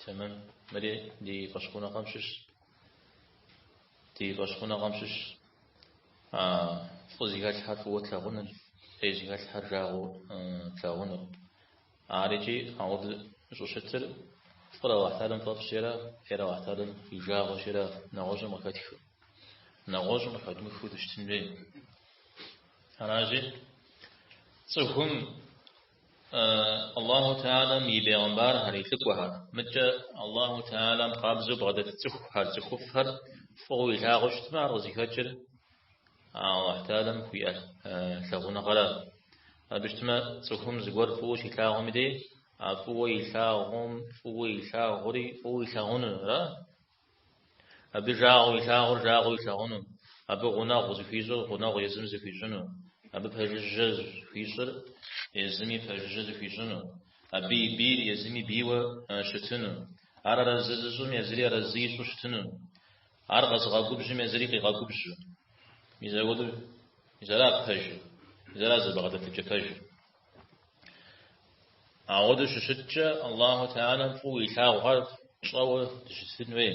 Тэмэм мыри ди фӏэщхъуныгъэм щыщ. Ди фӏэщхъуныгъэм щыщ а фӏы зыхэлъхьэр фӏыуэ тлъагъуныр, фӏей зыхэлъхьэр жагъуэ тлъагъуныр. Ар икӏи ауэдэу щӏыщытыр фӏыр Аллахь Теалэм фӏэфӏщи ара фӏейр Аллахь Теалэм и жагъуэщи ара нэгъуэщӏым къыхэтхыу, нэгъуэщӏым къыхэдмыхыу дыщытын хуей. Аращи, цӏыхум Аллаху Теалэм и бегъымбархэр, и лӏыкӏуэхэр. Мыдкӏэ Аллаху Теалэм къабзэу бгъэдэт цӏыхухэр, цӏыхуфӏхэр фӏыуэ илъагъуу щытмэ, ар къызыхэкӏыр Аллаху Теалэм хуиӏэ лъагъуныгъэра. Абы щытмэ, цӏыхум зыгуэр фӏыуэ щилъагъум и дей, а фӏыуэ илъагъум, фӏыуэ илъагъури фӏыуэ илъагъунура? Абы жагъуэ илъагъур жагъуэу илъагъуну, абы гъунэгъу зыхуищӏыр гъунэгъу езыми зыхуищӏыну, абы пэжыжьэ зыхуищӏыр езыми пэжыжьэ зыхуищӏыну, абы и бийр езыми бийуэ щытыну, ар арэзы зыщӏым езыри арэзы ищӏу щытыну, ар къэзыгъэгубжьым езыри къигъэгубжьу. Мис ауэдэу, мис ара пэжыр, мис ара зэбгъэдэтыкӏэ пэжыр. Ауэдэу щыщыткӏэ, Аллаху Теалэм фӏыуэ илъагъухэр тщӏэуэ дыщытын хуей.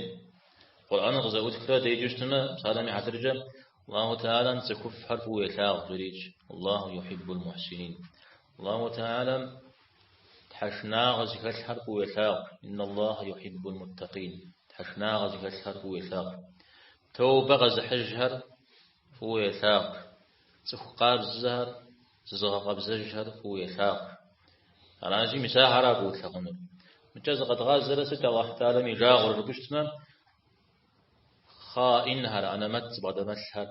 Къурӏэныр къызэӏутхрэ деджэу щытмэ, псалъэм и хьэтыркӏэ Аллаху Теалэм цӏыхуфӏхэр фӏыуэ елъагъу жерикӏ, Аллаху юхьиббул мухьсинин. Аллаху Теалэм тхьэшынагъэ зыхэлъхэр фӏыуэ елъагъу, Инна Аллахэ юхьиббул муттакъин. Тхьэшынагъэ зыхэлъхэр фӏыуэ елъагъу. Тоубэ къэзыхьыжхэр фӏыуэ елъагъу. Цӏыху къабзэхэр Зызыгъэкъэбзэжхэр фӏыуэ елъагъу. Арази, мис ахэра фӏыуэ тлъагъунур. Мыкӏэ зыкъэдгъазэрэ сыт Аллахьу тӏалэм и жагъуэр жыпӏэу щытмэ, хъаинхэр, анэмэт зыбгъэдэмылъхэр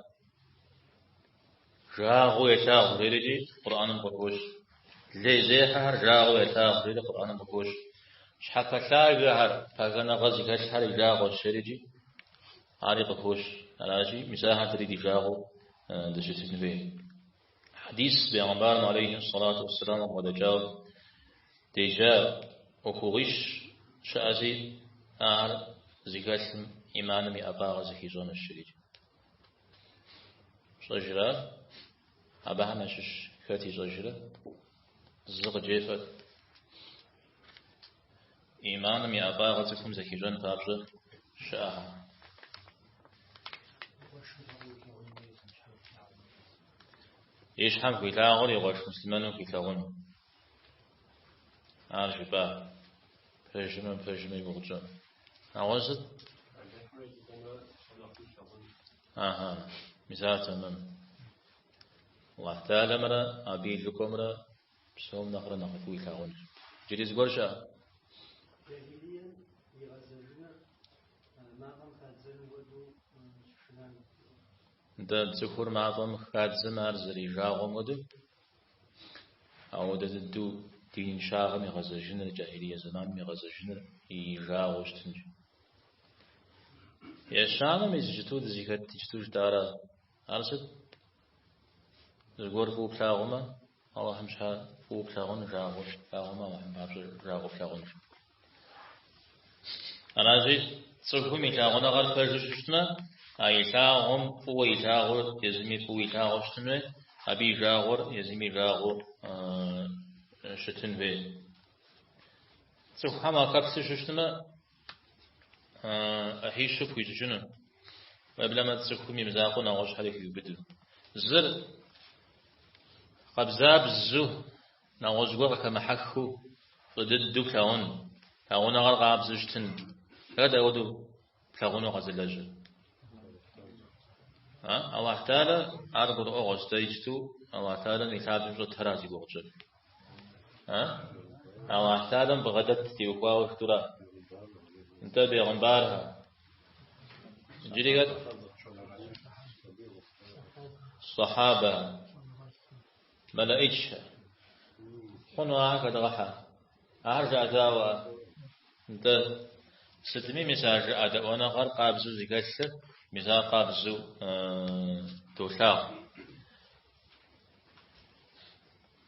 жагъуэу елъагъу жерикӏи Къурӏаным къыхощ. Лейзехьэхэр жагъуэу елъагъу жери Къурӏаным къыхощ. Щхьэпэлъагэхэр, пагэныгъэ зыхэлъхэр и жагъуэщ жерикӏи ари къыхощ. Арази, мис ахэр дэри ди жагъуэу дыщытын хуей. Хьэдис Бегъымбарым алейхи сэлату уссэлам къыбгъэдэкӏауэ деджа ӏуэхугъуищ щыӏэзи, ахэр зыхэлъым ӏиманым и ӏэфӏагъыр зыхищӏэнущ жерикӏ. Фщӏэжра? Абыхэм ящыщ хэт ищӏэжрэ? Зы къыджефӏэт. Иманым и ӏэфӏагъыр цӏыхум зэхищӏэн папщӏэ щыӏэхэр. И щхьэм хуилъагъур и къуэш муслъымэным хуилъагъуну. Ар жыпӏа? Пэжымэ, пэжымэ игугъукӏэ. Ауэ сыт? Ага, мис, тэмэм. Аллах Теалэмрэ абы и лӏыкӏуэмрэ Псом нэхърэ нэхъыфӏу илъагъунущ. Джыри зыгуэр щыӏэ? Джахилием игъэзэжыныр мафӏэм хадзэным хуэдэу щышынам. Нтӏэ, цӏыхур мафӏэм хадзэм ар зэрижагъуэм хуэдэу, ауэдэ дыдэу диныншагъэм игъэзэжыныр, джахилие зэманым игъэзэжыныр и жагъуэу щытынщ. Ещанэ мис иджыту дызыхэт иджыту жытӏарэ, ар сыт? Зыгуэр фӏыуэ плъагъумэ, Аллахьым щхьэ фӏыуэ плъагъун жагъуэ плъагъумэ, Аллахьым папщӏэ жагъуэ плъагъун. Аращи, цӏыхум и лъагъуныгъэр пэжу щыщытмэ, а илъагъум фӏыуэ илъагъур езыми фӏыуэ илъагъуэу щытын хуей, абы и жагъуэр езыми жагъуэу щытын хуей. Цӏыхухэм ахэплъу щыщытмэ, ӏыхьищу пхуищӏыкӏыну, уеблэмэ цӏыхум имызакъуэу нэгъуэщӏхэри хиубыду. Зыр къабзабзу, нэгъуэщӏ гуэр къыхэмыхьэхыу, фӏы дыдэу плъагъун, лъагъуныгъэр къабзэу щытын. Хэт апхуэдэу плъагъуну къэзылэжьыр? Алыхь Теалэ ар гурыӏуэгъуэщ, дэ иджыту Алыхь Теалэм и лъабжьэм щӏэтхэращ зи гугъу тщӏыр. А? Аллах Таалам бгъэдэт теухуауэ хэту ара? Нтӏэ бегъымбархэ. Джыри хэт? Сахаба. Малаичхэ. Хъуну ахэр хэдгъэхьэ. Ахэр жыӏэдаӏуэ. Нтӏэ сытми мис а жыӏэдэӏуэныгъэр къабзэу зыхэлъыр мис ар къабзэу долъагъу.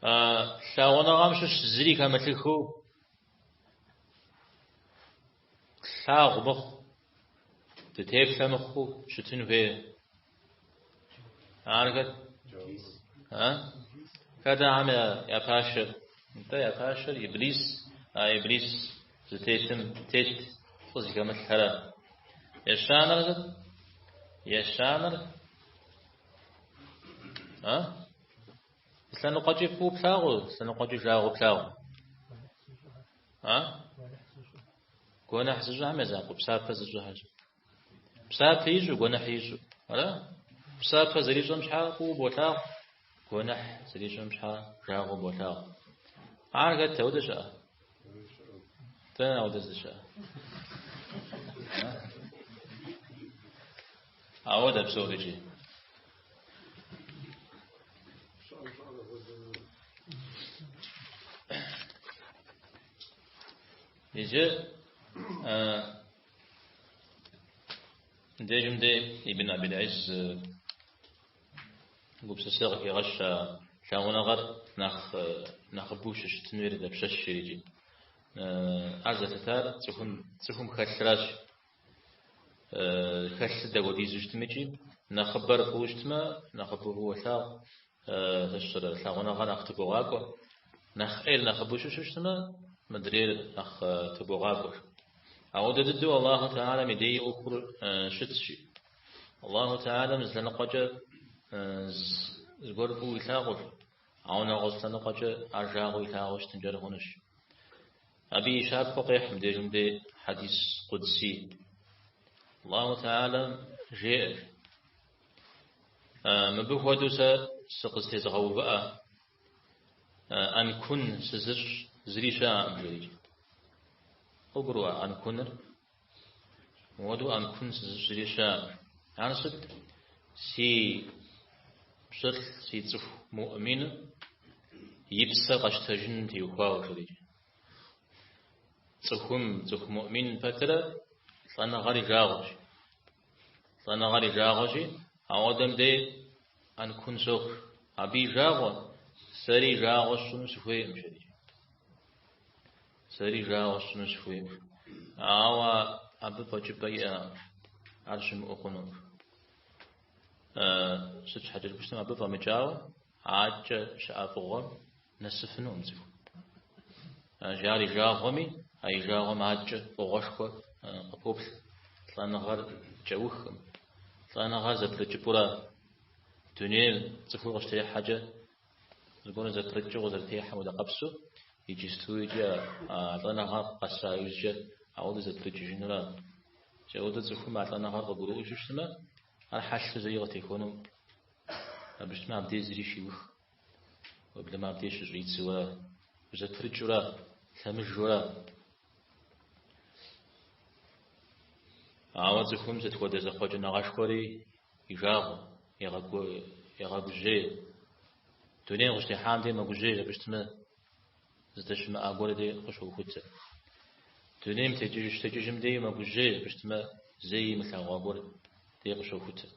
А лъагъуныгъэм щыщ зыри хэмылъыхыу тлъагъу мыхъу, дытеплъэ мыхъуу щытын хуей. Ар хэт? А? Хэт ахьэм я пашэр? Нтӏэ я пашэр Иблис, а Иблис зытетым тет фӏы зыхэмылъхэрэ. Ещанэр хэт? Ещанэр А? Лъэныкъуэкӏи фӏыуэ плъагъу, лъэныкъуэкӏи жагъуэ плъагъу. А? Гуэныхь зыщӏыхьэм я закъуэ, псапэ зыщӏыхьэщ. Псапэ ищӏу, гуэныхь ищӏу. Ара? Псапэ зэрищӏэм щхьа фӏыуэ болъагъу, гуэныхь зэрищӏэм щхьа жагъуэ болъагъу. Ар хэт ауэдэ щыӏэ? Дэнэ ауэдэ зыщыӏэ? Ауэдэ псори икӏи. Иджы дежым де Ибн Абил-Ӏиз гупсысэ къыхигъэщ а лъагъуныгъэр нэхъ нэхъыбэу щыщытын хуейр дапщэщ жерикӏэ. Ар зэлъытар цӏыхум цӏыхум хэлъращ. хэлъыр дэхуэдизу щытми икӏи нэхъыбэр фӏыуэ щытмэ, нэхъыбэу фӏыуэ уолъагъу, сэ щыщӏэрэ, лъагъуныгъэ нэхъ тыбогъакӏуэ. Нэхъ ӏейр нэхъыбэу щыщу щытмэ, мыдрейр нэхъ тыбогъакӏуэ, жи. Ауэдэ дыдэу Аллаху Теалэм и дей ӏуэхур щытщ, жи. Аллаху Теалэм зы лъэныкъуэкӏэ зыгуэр фӏыуэ илъагъуу, ауэ нэгъуэщӏ лъэныкъуэкӏэ ар жагъуэу илъагъуу щытынкӏэрэ хъунущ. Абы и щапхъэу къехь мыбдежым дей хьэдис къудсий. Аллаху Теалэм жеӏэр, Мыбы хуэдэу сэ сыкъызтезыгъэувыӏэ, ӏэнкун сызыщӏ зыри щыӏэкъым, жерикӏэ. Къыбгуроӏуэ ӏэнкуныр? Мыуэду ӏэнкун сызыщӏри щыӏэкъым. Ар сыт? Си пщылӏ, си цӏыху Муӏмин и псэр къэщтэжыным теухуауэ жерикӏэ. Цӏыхум, цӏыху Муӏмин пэтырэ лӏэныгъэр и жагъуэщ. Лӏэныгъэр и жагъуэщи, ауэдэм дей ӏэнкун соху. Абы и жагъуэ, сэри и жагъуэ сщӏыну сыхуейкъым жерикӏэ. Сэри жагъуэ сщӏыну сыхуейт, ауэ абы фӏэкӏыпӏэ иӏэкъым ар щымыӏэу хъуну. Сыт щхьэкӏэ жыпӏэу щытмэ, абы фӏэмыкӏауэ адэкӏэ щыӏэ фӏыгъуэм нэсыфынукъым цӏыху, жи. Ар и жагъуэми, а и жагъуэм адэкӏэ фӏыгъуэшхуэ къыпоплъ, лӏэныгъэр кӏэухкъым. Лӏэныгъэр зэпрыкӏыпӏэура, дунейр цӏыхур къыщытехьэкӏэ Зыгуэру зэпрыкӏыу къызэрытехьэм хуэдэ къабзэу, иджысту икӏи а лӏэныгъэр къэса иужькӏэ ауэдэ зэпрыкӏыжынуращ. Ауэдэ цӏыхум а лӏэныгъэр къыгурыӏуэжу щытмэ, ар хьэлъэу зэи къытехуэнукъым, жыпӏэу щытмэ, абдей зыри щиухкъым. Уеблэмэ абдей щыщӏидзэура, узэпрыкӏыура, лъэмыжура, Ауэ цӏыхум сыт хуэдэ зэхъуэкӏыныгъэшхуэри и жагъуэ, егъэгужьей. Дунейм къыщытехьам де мэгужьей жыпӏэу щытмэ, здэщымыӏа гуэр де къыщохутэ. Дунейм текӏыж щытекӏыжым де мэгужьей жыпӏэу щытмэ, зэи имылъагъуа гуэр де къыщохутэ.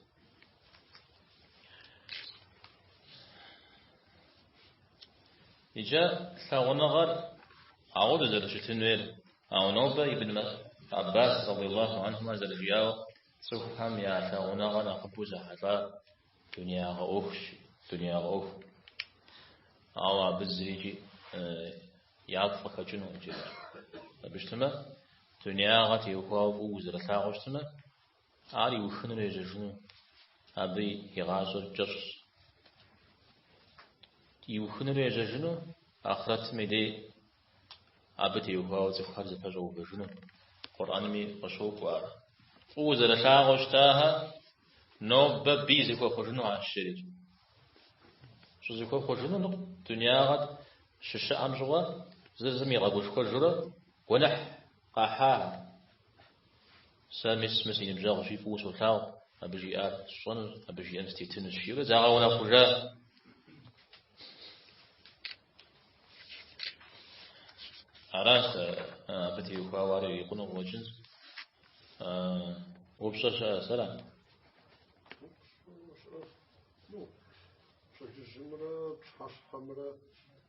Иджы лъагъуныгъэр апхуэдэу зэрыщытынуейр, ауэ нобэ Ибн Аббас радиаллаху анхумэ зэрыжиӏауэ, цӏыхухэм я лъагъуныгъэ нэхъыбэу зэхьэлӏар дуниягъэ ӏуэхущ, дуниягъэ ӏуэху. Ауэ абы зырикӏи яфӏ къыхэкӏынукъым жеӏэр. Абы щытмэ, дуниягъэ теухуауэ фӏыуэ узэрылъагъуу щытмэ, Ар иухынур ежьэжыну абы и гъащӏэр кӏэщӏщ. Иухынур ежьэжыну ахърэтым и дей абы теухуауэ цӏыхухэр зэпэщӏэувэжыну Къурӏэнми къыщокӏуэ ар. Фӏыуэ зэрылъагъуу щытахэр нобэ бий зэхуэхъужыну ар щыри. Щӏызэхуэхъужыну ныкъу дунягъэт щыщыӏэм щыгъуэ зыр зым игъэгушхуэжурэ гуэныхь къахьахэр. Сэ мис мы си ныбжьэгъущи фӏыуэ солъагъу, абы жиӏар сщӏэнущ, абы жиӏэм сытетынущ, жиӏэурэ загъэунэхъужа. Аращ сэ абы теухуауэ ар ирикъуну къыуэкӏынщ. Упщӏэ щыӏэ сэра? Пщэдджыжьымрэ пщыхьэщхьэмрэ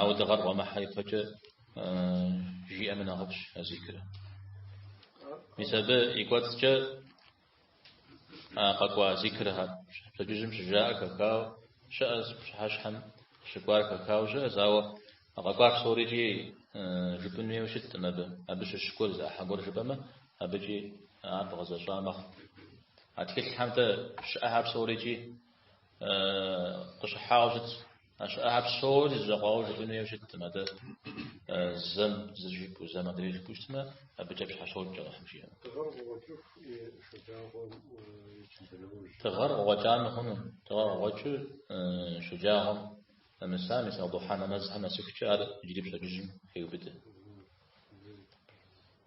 Ауэ дыгъэр къуэмыхьэ ипэкӏэ жиӏэми нэхъыфӏщ а зикрэ. Мис абы и кӏуэцӏкӏэ къэкӏуа зикрхэр пщэдджыжьым щыжаӏэ хэхауэ щыӏэщ, пщыхьэщхьэм щыкӏуар хэхауэ щыӏэщ, ауэ къэкӏуар псорикӏи жыпӏын хуейуэ щыттым абы. Абы щыщ гуэр зыӏыхьэ гуэр жыпӏэмэ, абыкӏи ар бгъэзэщӏа мэхъу. А тхылъхэм де щыӏэхэр псорикӏи къыщыхьауэ щытщ. А щыӏэхэр псори зэкъуауэ жыпӏэн хуейуэ щыттым. Атӏэ зэм зыр жыпӏэу, зэм адрейр жыпӏэу щытмэ, абыкӏэ пщхьэщокӏ Алыхьым жиӏэмэ. Дыгъэр къыкъуэкӏыху и шэджагъуэм и чынджыныужь. Дыгъэр къыкъуэкӏамэ хъуну? Дыгъэр къыкъуэкӏыу шэджагъуэм нэмысами сал-духьэ нэмэзхэм нэсыхукӏэ ар иджыри пщэдджыжьым хеубыдэ.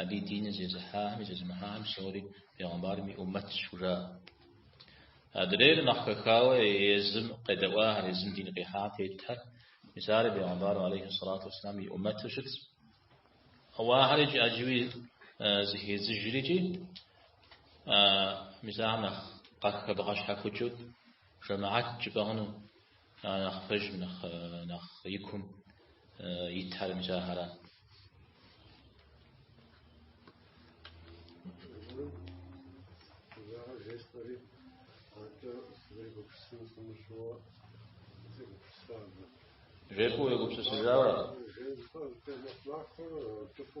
Абы и диныр зезыхьахэми зезымыхьахэм псори пегъэмбарым и ӏуммэтщ хужаӏэ. Адрейр нэхъ хэхауэ езым къедэӏуахэр, езым дин къихьам тетхэр, мис ари пегъэмбарым алейхи сэлату уэсселам и ӏуммэту щытщ. Ауэ ахэрикӏ ӏэджэуи зэхедзыжри икӏи мис ахэм нэхъ къахэбгъэщхьэхукӏыу жэмыхьэт жыпӏэ хъуну Ар нэхъ пэжым, нэхъ, нэхъ икум итхэр мыкӏэ ахэр. Жепу егупсысыжауэ. Жепу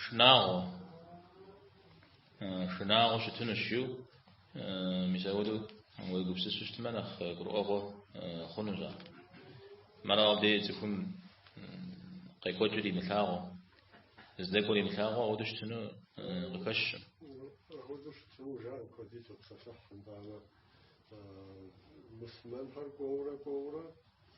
Шынагъуэ. Шынагъуэ щытынущ жыу, мис ауэдэу уегупсысу щытмэ нэхъ гурыӏуэгъуэ хъунущ ар. Мыращ абдеж цӏыхум къекӏуэкӏыр имылъагъуу, здэкӏуэр имылъагъуу ауэдэу щытыну къыхэщым. Ауэдэу щытыну жаӏэ куэди топсэлъыхь, итӏанэ мусульмэнхэр кӏуэурэ-кӏуэурэ